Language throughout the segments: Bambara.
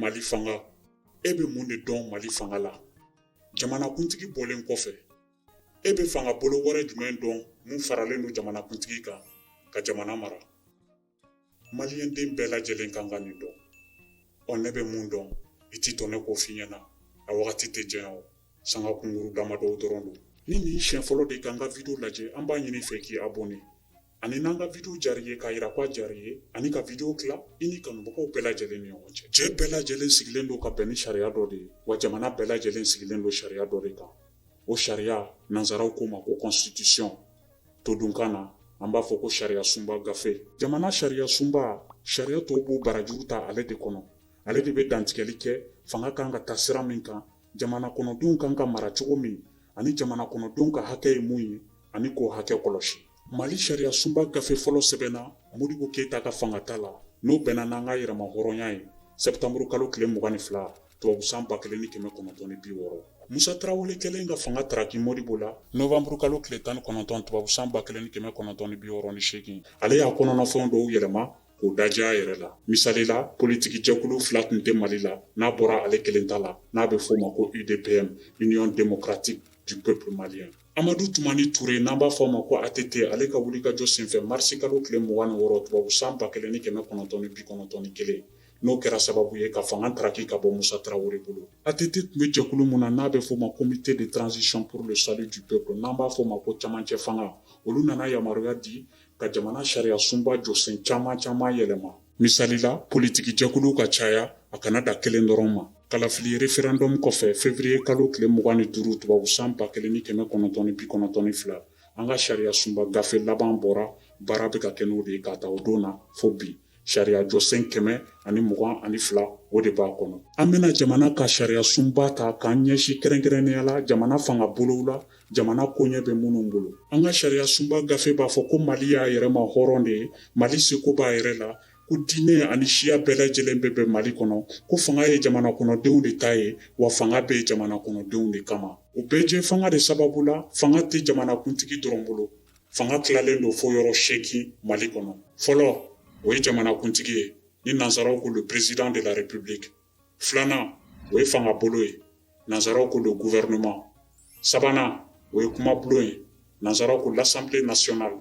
Mali fanga e bɛ mun de dɔn mali fanga la jamanakuntigi bɔlen kɔfɛ e bɛ fanga bolo wɛrɛ jumɛn dɔn min faralen don jamanakuntigi kan ka jamana mara maliyɛnden bɛɛ lajɛlen kan ka nin dɔn ɔ ne bɛ mun dɔn i t'i jɔ ne k'o f'i ɲɛna a wagati tɛ janya o sanga kunkuru damadɔ dɔrɔn don ni nin siɲɛ fɔlɔ de k'an ka video lajɛ an b'a ɲini fɛ k'i abonné ani n'an ka video diyara i ye k'a jira k'a diyara i ye ani ka video tila i ni kanubagaw bɛɛ lajɛlen ni ɲɔgɔn cɛ jɛ bɛɛ lajɛlen sigilen don ka bɛn ni sariya dɔ de ye wa jamana bɛɛ lajɛlen sigilen don sariya dɔ de kan o sariya nansaraw k'o ma ko constitution todunkan na an b'a fɔ ko sariya sunba gafe jamana sariya sunba sariya tɔw b'u barajuru ta ale de kɔnɔ ale de bɛ dantigɛli kɛ fanga kan ka ta sira min kan jamana kɔnɔdenw kan ka mara cogo min ani jamana kɔnɔdenw ka hakɛ ye mun ye ani k'o hakɛ kɔlɔsi Mali sariya sunba gafe fɔlɔ sɛbɛnna Modibo Keyita ka fangata la, n'o bɛnna n'an ka yɛrɛmahɔrɔnya ye sɛptanburu kalo tile mugan ni fila, tubabu san ba kelen ni kɛmɛ kɔnɔntɔn ni bi wɔɔrɔ. Musa Tarawele kɛlen ka fanga taraki Modibo la nɔwanburu kalo tile tan ni kɔnɔntɔn, tubabu san ba kelen ni kɛmɛ kɔnɔntɔn ni bi wɔɔrɔ ni seegin, ale y'a kɔnɔnafɛnw dɔw yɛlɛma k'o dadiya a yɛrɛ la. Misali la, politikijɛkulu fila tun tɛ Mali la n'a bɔra ale kelen ta la, n'a bɛ f'o ma ko UDPM, Union Démocratique du Peuple Malien. Amadu Tumani Ture n'an b'a fɔ a ma ko ATT ale ka wulikajɔ senfɛ marisi kalo tile 26 tubabu san 1991 n'o kɛra sababu ye ka fanga taraki ka bɔ Musa Tarawele bolo, ATT tun bɛ jɛkulu min na n'a bɛ fɔ o ma comité de transition pour le salut du peuple n'an b'a fɔ o ma ko camancɛ fanga, olu nana yamaruya di ka jamana sariyasunba jɔsen caman caman yɛlɛma. Misali la politiki jɛkuluw ka caya a kana da kelen dɔrɔn ma. Kalafili référendum kɔfɛ février kalo tile mugan ni duuru tubabu san ba kelen ni kɛmɛ kɔnɔntɔn ni bi kɔnɔntɔn ni fila, an ka sariyasunba gafe laban bɔra, baara bɛ ka kɛ n'o de ye k'a ta o don na fo bi. Sariya jɔsen kɛmɛ ani mugan ani fila, o de b'a kɔnɔ. An bɛna jamana ka sariyasunba ta k'an ɲɛsin kɛrɛnkɛrɛnnenya la jamana fanga bolow la, jamana koɲɛ bɛ minnu bolo an ka sariya sunba gafe b'a fɔ ko mali y'a yɛrɛma hɔrɔn de ye mali seko b'a yɛrɛ la ko diinɛ ani siya bɛɛ lajɛlen bɛ bɛn mali kɔnɔ ko fanga ye jamana kɔnɔdenw de ta ye wa fanga bɛ yen jamana kɔnɔdenw de kama o bɛɛjɛfanga de sababu la fanga tɛ jamanakuntigi dɔrɔn bolo fanga tilalen don fo yɔrɔ seegin mali kɔnɔ fɔlɔ o ye jamanakuntigi ye ni nansaraw ko le président de la république filanan o ye fangabolo ye nanzaraw ko le gouvernement sabanan o ye kumabulon ye nanzaraw ko l'assemblée nationale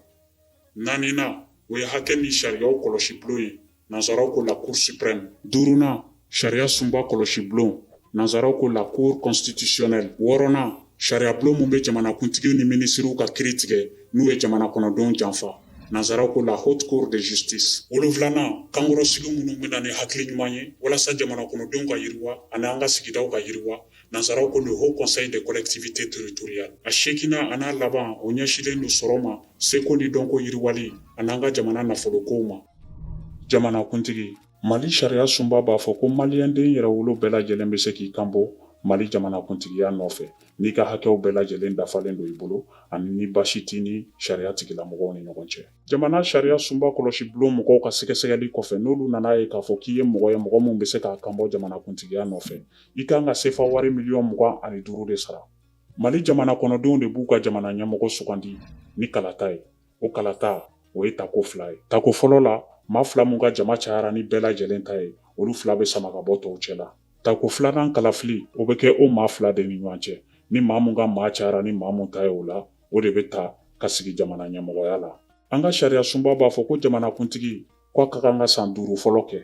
naaninan o ye hakɛ ni sariyaw kɔlɔsi bulon ye nanzaraw ko la cour suprême duurunan sariya sunba kɔlɔsi bulon nanzaraw ko la cour constitutionnelle wɔɔrɔnan sariyabulon min bɛ jamanakuntigi ni minisiriw ka kiri tigɛ n'u ye jamana kɔnɔdenw janfa Nansaraw ko la haute cour de justice wolonfilanan kankɔrɔsigi minnu bɛ na ni hakili ɲuman ye walasa jamana kɔnɔdenw ka yiriwa ani an ka sigidaw ka yiriwa nansaraw ko le haut conseil des collectivités territoriales a seeginan an'a laban o ɲɛsinlen don sɔrɔ ma seko ni dɔnko yiriwali ani an ka jamana nafolokow ma jamanakuntigi Mali sariya sunba b'a fɔ ko maliyɛnden yɛrɛwolo bɛɛ lajɛlen bɛ se k'i kanbɔ mali jamanakuntigiya nɔfɛ n'i ka hakɛw bɛɛ lajɛlen dafalen don i bolo ani ni baasi t'i ni sariya tigilamɔgɔw ni ɲɔgɔn cɛ jamana sariya sunba kɔlɔsi bulon mɔgɔw ka sɛgɛsɛgɛli kɔfɛ n'olu nan'a ye k'a fɔ k'i ye mɔgɔ ye mɔgɔ min bɛ se k'a kanbɔ jamanakuntigiya nɔfɛ i kan ka sefa wari miliyɔn mugan ani duuru de sara mali jamana kɔnɔdenw de b'u ka jamana ɲɛmɔgɔ sugandi ni kalata ye o kalata o ye tako fila ye tako fɔlɔ la maa fila min ka jama cayara ni bɛɛ lajɛlen ta ye olu fila bɛ sama ka bɔ tɔw cɛ la tako filanan kalafili o bɛ kɛ o maa fila de ni ɲɔgɔn cɛ ni maa min ka maa cayara ni maa min ta ye o la o de bɛ ta ka sigi jamana ɲɛmɔgɔya la an ka sariya sunba b'a fɔ ko jamanakuntigi k'a ka kan ka san duuru fɔlɔ kɛ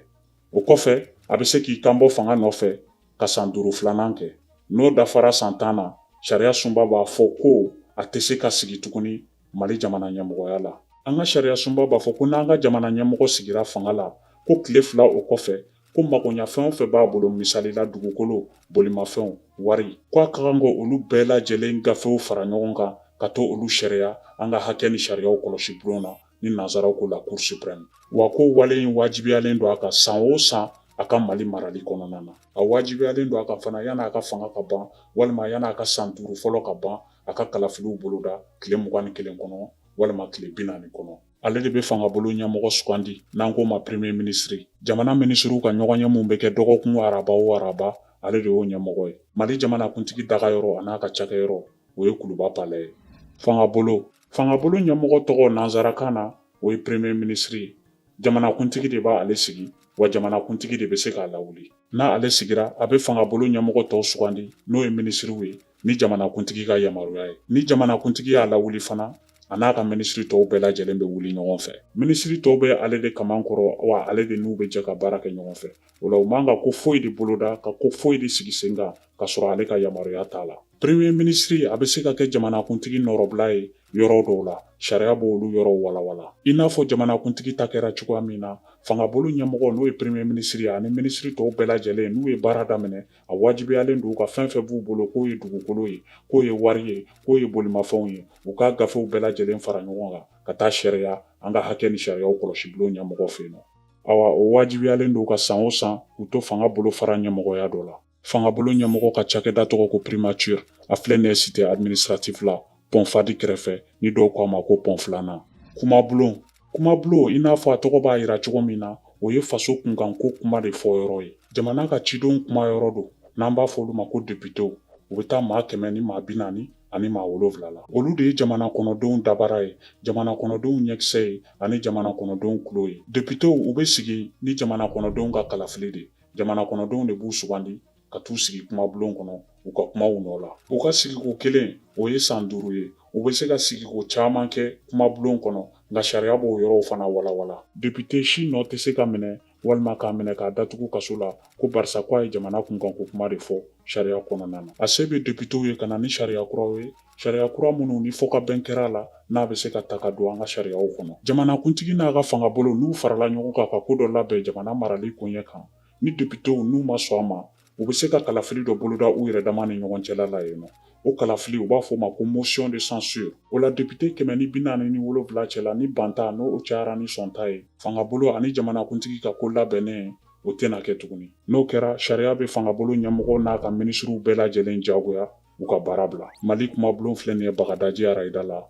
o kɔfɛ a bɛ se k'i kanbɔ fanga nɔfɛ ka san duuru filanan kɛ n'o dafara san tan na sariya sunba b'a fɔ ko a tɛ se ka sigi tuguni Mali jamana ɲɛmɔgɔya la. An ka sariyasunba b'a fɔ ko n'an ka jamana ɲɛmɔgɔ sigira fanga la, ko tile fila o kɔfɛ, ko magoɲafɛn o fɛn b'a bolo, misali la dugukolo, bolimafɛnw, wari, ko a ka kan ka olu bɛɛ lajɛlen gafew fara ɲɔgɔn kan ka to olu sariya an ka hakɛ ni sariyaw kɔlɔsi bulon na, ni nansaraw ko la Cour suprême. Wa k'o wale in wajibiyalen don a kan san o san a ka Mali marali kɔnɔna na. A wajibiyalen don a kan fana yan'a ka fanga ka ban walima yan'a ka san duuru fɔlɔ ka ban, a ka kalafiliw boloda tile mugan ni kelen kɔnɔ walima tile bi naani kɔnɔ ale de bɛ fangabolo ɲɛmɔgɔ sugandi n'an k'o ma premier ministre jamana minisiriw ka ɲɔgɔnye min bɛ kɛ dɔgɔkun araba o araba ale de y'o ɲɛmɔgɔ ye mali jamanakuntigi dagayɔrɔ an'a ka cakɛyɔrɔ o ye kuluba palais ye fangabolo fangabolo ɲɛmɔgɔ tɔgɔ nansarakan na o ye premier ministre ye jamanakuntigi de b'ale sigi wa jamanakuntigi de bɛ se k'a lawuli n'ale sigira a bɛ fangabolo ɲɛmɔgɔ tɔw sugandi n'o ye minisiriw ye ni jamanakuntigi ka yamaruya ye ni jamanakuntigi y'a lawuli fana a n'a ka minisiri tɔw bɛɛ lajɛlen bɛ wuli ɲɔgɔn fɛ minisiri tɔw bɛ ale de kaman kɔrɔ wa ale de n'u bɛ jɛ ka baara kɛ ɲɔgɔn fɛ o la u man ka ko foyi de boloda ka ko foyi de sigi sen kan ka sɔrɔ ale ka yamaruya t'a la premier ministre a bɛ se ka kɛ jamanakuntigi nɔrɔbila ye yɔrɔ dɔw la sariya b'olu yɔrɔw walawala i n'a fɔ jamanakuntigi ta kɛra cogoya min na fangabolo ɲɛmɔgɔ n'o ye premier ministre ani minisiri tɔw bɛɛ lajɛlen n'u ye baara daminɛ a wajibiyalen don u ka fɛn fɛn b'u bolo k'o ye dugukolo ye k'o ye wari ye k'o ye bolimafɛnw ye u k'a gafew bɛɛ lajɛlen fara ɲɔgɔn kan ka taa sariya an ka hakɛ ni sariyaw kɔlɔsi bulon ɲɛmɔgɔ fɛ yen nɔ awa o wajibiyalen don ka san o san u to fanga bolo fara ɲɛmɔgɔya dɔ la fangabolo ɲɛmɔgɔ ka cakɛda tɔgɔ ko primature a filɛ nin ye cité administratif la pɔn fadi kɛrɛfɛ ni dɔw k'a ma ko pɔn filanan kumabulon kuma bulon i n'a fɔ a tɔgɔ b'a yira cogo min na o ye faso kunkanko kuma de fɔ yɔrɔ ye jamana ka cidenw kuma yɔrɔ don n'an b'a fɔ olu ma ko depitew u bɛ taa maa kɛmɛ ni maa bi naani ani maa wolonwula la olu de ye jamana kɔnɔdenw dabara ye jamana kɔnɔdenw ɲɛkisɛ ye ani jamana kɔnɔdenw kulo ye depitew u bɛ sigi ni jamana kɔnɔdenw ka kalafili de jamana kɔnɔdenw de b'u sugandi ka t'u sigi kuma bulon kɔnɔ u ka kuma u nɔ la u ka sigiko kelen o ye san duuru ye u bɛ se ka sigiko caman kɛ kuma bulon kɔnɔ nka sariya b'o yɔrɔw fana walawala depite si nɔ tɛ se ka minɛ walima k'a minɛ k'a datugu kaso la ko barisa ko a ye jamana kunkanko kuma de fɔ sariya kɔnɔna na a se bɛ depitew ye ka na ni sariya kuraw ye sariya kura minnu ni fɔ ka bɛn kɛra a la n'a bɛ se ka ta ka don an ka sariyaw kɔnɔ jamanakuntigi n'a ka fangabolo n'u farala ɲɔgɔn kan ka ko dɔ labɛn jamana marali koɲɛ kan ni depitew n'u ma sɔn a ma u bɛ se ka kalafili dɔ boloda u yɛrɛ dama ni ɲɔgɔn cɛla la yen nɔ o kalafili u b'a fɔ o ma ko motion de censure o la depite kɛmɛ ni bi naani ni wolonwula cɛla ni banta n'o cayara ni sɔnta ye fangabolo ani jamanakuntigi ka ko labɛnnen o tɛna kɛ tuguni n'o kɛra sariya bɛ fangabolo ɲɛmɔgɔ n'a ka minisiriw bɛɛ lajɛlen jagoya u ka baara bila mali kumabulon filɛ nin ye bagadaji arayida la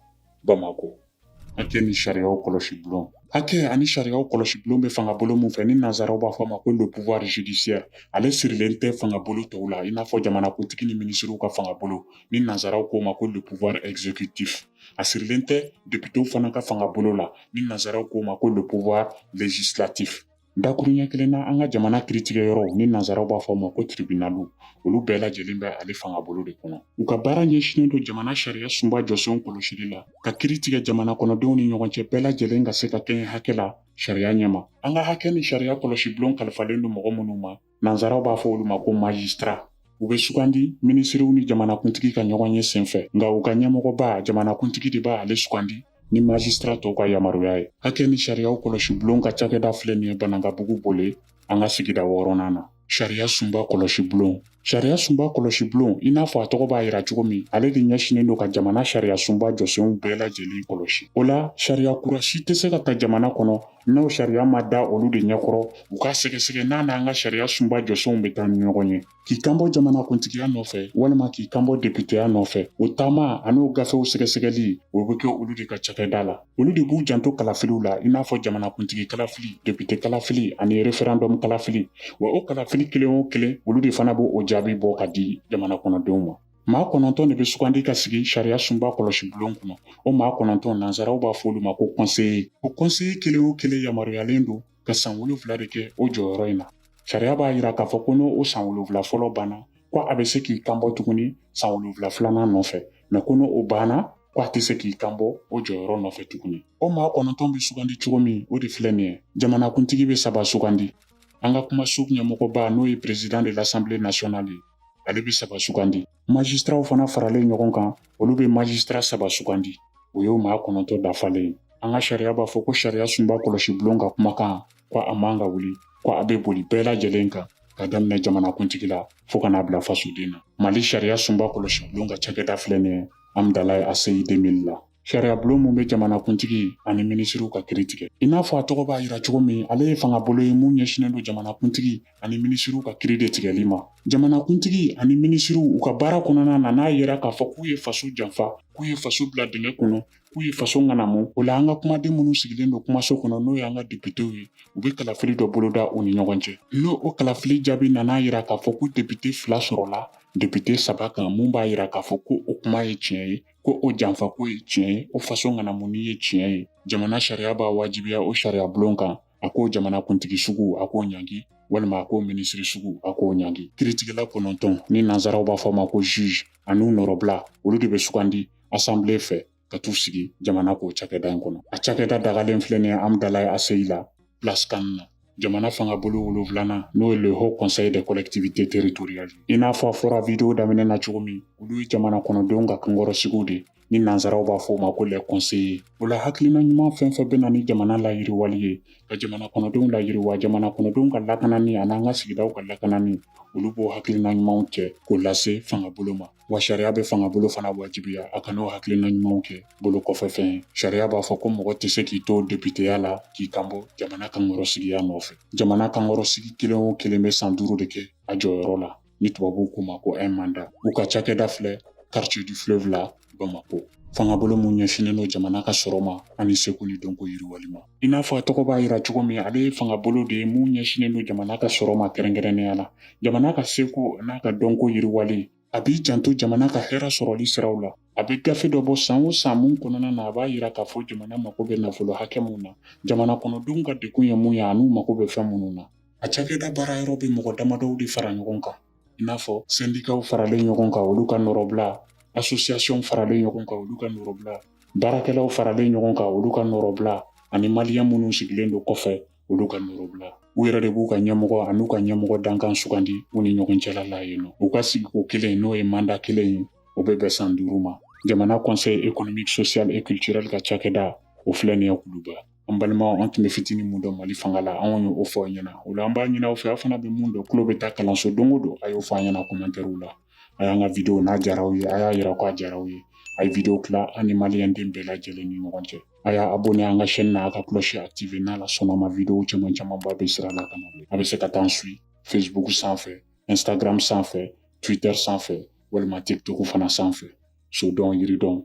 bamako Hakɛ ni sariyaw kɔlɔsi bulon hakɛ ani sariyaw kɔlɔsi bulon bɛ fanga bolo min fɛ ni nanzaraw b'a fɔ a ma ko le pouvoir judiciaire ale sirilen tɛ fanga bolo tɔw la i n'a fɔ jamanakuntigi ni minisiriw ka fanga bolo ni nanzaraw k'o ma ko le pouvoir exécutif a sirilen tɛ depitew fana ka fanga bolo la ni nanzaraw k'o ma ko le pouvoir législatif Dakuruɲɛ kelen na an ka jamana kiritigɛ yɔrɔw ni nanzaraw b'a fɔ a ma ko tiribinaliw olu bɛɛ lajɛlen bɛ ale fanga bolo de kɔnɔ u ka baara ɲɛsinnen don jamana sariya sunba jɔsenw kɔlɔsili la ka kiri tigɛ jamana kɔnɔdenw ni ɲɔgɔn cɛ bɛɛ lajɛlen ka se ka kɛɲɛ hakɛ la sariya ɲɛma an ka hakɛ ni sariya kɔlɔsi bulon kalifalen don mɔgɔ minnu ma Nansaraw b'a fɔ olu ma ko majistra u bɛ sugandi minisiriw ni jamanakuntigi ka ɲɔgɔn ye senfɛ nka u ka ɲɛmɔgɔba jamanakuntigi de b'ale sugandi ni majistra tɔw ka yamaruya ye hakɛ ni sariyaw kɔlɔsi bulon ka cakɛda filɛ nin ye banankabugu bole an ka sigida wɔɔrɔnan na sariya sunba kɔlɔsi bulon sariya sunba kɔlɔsi bulon i n'a fɔ a tɔgɔ b'a yira cogo min ale de ɲɛsinnen don ka jamana sariya sunba jɔsenw bɛɛ lajɛlen kɔlɔsi o la sariya kura si tɛ se ka ta jamana kɔnɔ N'o sariya ma da olu de ɲɛkɔrɔ u ka sɛgɛsɛgɛ n'a n'an ka sariya sunba jɔsenw bɛ taa ni ɲɔgɔn ye k'i kanbɔ jamanakuntigiya nɔfɛ walima k'i kanbɔ depiteya nɔfɛ o taama an'o gafew sɛgɛsɛgɛli o bɛ kɛ olu de ka cakɛda la olu de b'u janto kalafiliw la i n'a fɔ jamanakuntigi kalafili depite kalafili ani referɛndɔm kalafili wa o kalafili kelen o kelen olu de fana b'o jaabi bɔ ka di jamana kɔnɔdenw ma Maa kɔnɔntɔn de bɛ sugandi ka sigi sariya sunba kɔlɔsi bulon kɔnɔ o maa kɔnɔntɔn nansaraw b'a fɔ olu ma ko conseiller o conseiller kelen o kelen yamaruyayalen don ka san wolonwula de kɛ o jɔyɔrɔ in na sariya b'a yira k'a fɔ ko n'o san wolonwula fɔlɔ banna ko a bɛ se k'i kanbɔ tuguni san wolonwula filanan nɔfɛ mɛ ko n'o banna ko a tɛ se k'i kanbɔ o jɔyɔrɔ nɔfɛ tuguni o maa kɔnɔntɔn bɛ sugandi cogo min o de filɛ nin ye jamanakuntigi bɛ saba sugandi an ka kumaso ɲɛmɔgɔba n'o ye président de l'Assemblée nationale ye ale bɛ saba sugandi majisitaraw fana faralen ɲɔgɔn kan olu bɛ majisitara saba sugandi o y'o maa kɔnɔntɔn dafalen ye an ka sariya b'a fɔ ko sariya sunba kɔlɔsi bulon ka kumakan ko a man ka wuli ko a bɛ boli bɛɛ lajɛlen kan ka daminɛ jamanakuntigi la fo ka n'a bila fasoden na mali sariya sunba kɔlɔsi bulon ka cakɛda filɛ nin ye Hamdallaye ACI deux mille la sariyabulon mun bɛ jamanakuntigi ani minisiriw ka kiri tigɛ i n'a fɔ a tɔgɔ b'a yira cogo min ale ye fanga bolo ye mun ɲɛsinnen don jamanakuntigi ani minisiriw ka kiri de tigɛli ma jamanakuntigi ani minisiriw u ka baara kɔnɔna na n'a yera k'a fɔ k'u ye faso janfa k'u ye faso bila dingɛ kɔnɔ k'u ye faso ŋanamu o la an ka kumaden minnu sigilen don kumaso kɔnɔ n'o y'an ka depitew ye u bɛ kalafili dɔ boloda u ni ɲɔgɔn cɛ n'o kalafili jaabi nan'a yira k'a fɔ ko depite fila sɔrɔla depite saba kan mun b'a yira k'a fɔ ko o kuma ye tiɲɛ ye ko o janfako ye tiɲɛ ye o faso ŋanamuni ye tiɲɛ ye jamana sariya b'a wajibiya o sariya bulon kan a k'o jamana kuntigi sugu a k'o ɲangi walima a k'o minisiri sugu a k'o ɲangi kiritigɛla kɔnɔntɔn ni nansaraw b'a fɔ ma ko juge an'u nɔrɔbila olu de bɛ sugandi assemblée fɛ ka t'u sigi jamana k'o cakɛda in kɔnɔ a cakɛda dagalen filɛ nin ye Hamdallaye ACI la place CAN na jamana fanga bolo wolonfilanan n'o ye le haut conseil des collectivités territoriales i n'a fɔ a fɔra video daminɛ na cogo min olu ye jamana kɔnɔdenw ka kankɔrɔsigiw de ni nansaraw b'a fɔ u ma ko les conseillers o la hakilina ɲuman fɛn fɛn bɛ na ni jamana layiriwali ye ka jamana kɔnɔdenw layiriwa jamana kɔnɔdenw ka lakanani an'an ka sigidaw ka lakanani olu b'o hakilina ɲumanw cɛ k'o lase fangabolo ma wa sariya bɛ fanga bolo fana wajibiya a kan'o hakilina ɲumanw kɛ bolo kɔfɛ fɛn ye sariya b'a fɔ ko mɔgɔ tɛ se k'i to depiteya la k'i kanbɔ jamana kankɔrɔsigiya nɔfɛ jamana kankɔrɔsigi kelen o kelen bɛ san duuru de kɛ a jɔyɔrɔ la ni tubabuw k'o ma ko un mandat u ka cakɛda filɛ quartier du fleuve la bamako fangabolo mun ɲɛsinnen don jamana ka sɔrɔ ma ani seko ni dɔnko yiriwali ma I n'a fɔ a tɔgɔ b'a yira cogo min ale ye fanga bolo de ye mun ɲɛsinnen don jamana ka sɔrɔ ma kɛrɛnkɛrɛnnenya la jamana ka seko n'a ka dɔnko yiriwali a b'i janto jamana ka hɛrɛ sɔrɔli siraw la a bɛ gafe dɔ bɔ san o san mun kɔnɔna na a b'a yira k'a fɔ jamana mako bɛ nafolo hakɛ mun na jamana kɔnɔdenw ka degun ye mun ye an'u mako bɛ fɛn minnu na a cakɛda baara yɔrɔ bɛ mɔgɔ damadɔw de fara ɲɔgɔn kan i n'a fɔ sendikaw faralen ɲɔgɔn kan olu ka nɔrɔbila asosiyasiɔn faralen ɲɔgɔn kan olu ka nɔrɔbila baarakɛlaw faralen ɲɔgɔn kan olu ka nɔrɔbila ani maliyɛn minnu sigilen don kɔfɛ olu ka nɔrɔbila u yɛrɛ de b'u ka ɲɛmɔgɔ an'u ka ɲɛmɔgɔ dankan sugandi u ni ɲɔgɔn cɛla la yen nɔ u ka sigiko kelen n'o ye manda kelen ye o bɛ bɛn san duuru ma jamana conseil économique social et culturel ka cakɛda o filɛ nin ye kuluba an balimaw an tun bɛ fitinin mun dɔn mali fanga la anw ye o fɔ aw ɲɛna o la an b'a ɲini aw fɛ aw fana bɛ mun dɔn tulo bɛ taa kalanso don o don a y'o fɔ an ɲɛna kɔmɛntɛriw la a y'an ka videow n'a diyara aw ye a y'a yira k'a diyara aw ye a ye videow tila an ni maliyɛnden bɛɛ lajɛlen ni ɲɔgɔn cɛ a y'a abonné an ka chaîne na a ka cloche activé n'ala sɔnna ma videow caman camanba bɛ sira la ka na a bɛ se ka taa an suit facebook sanfɛ instagram sanfɛ twitter sanfɛ walima tiktok fana sanfɛ so dɔn yiri dɔn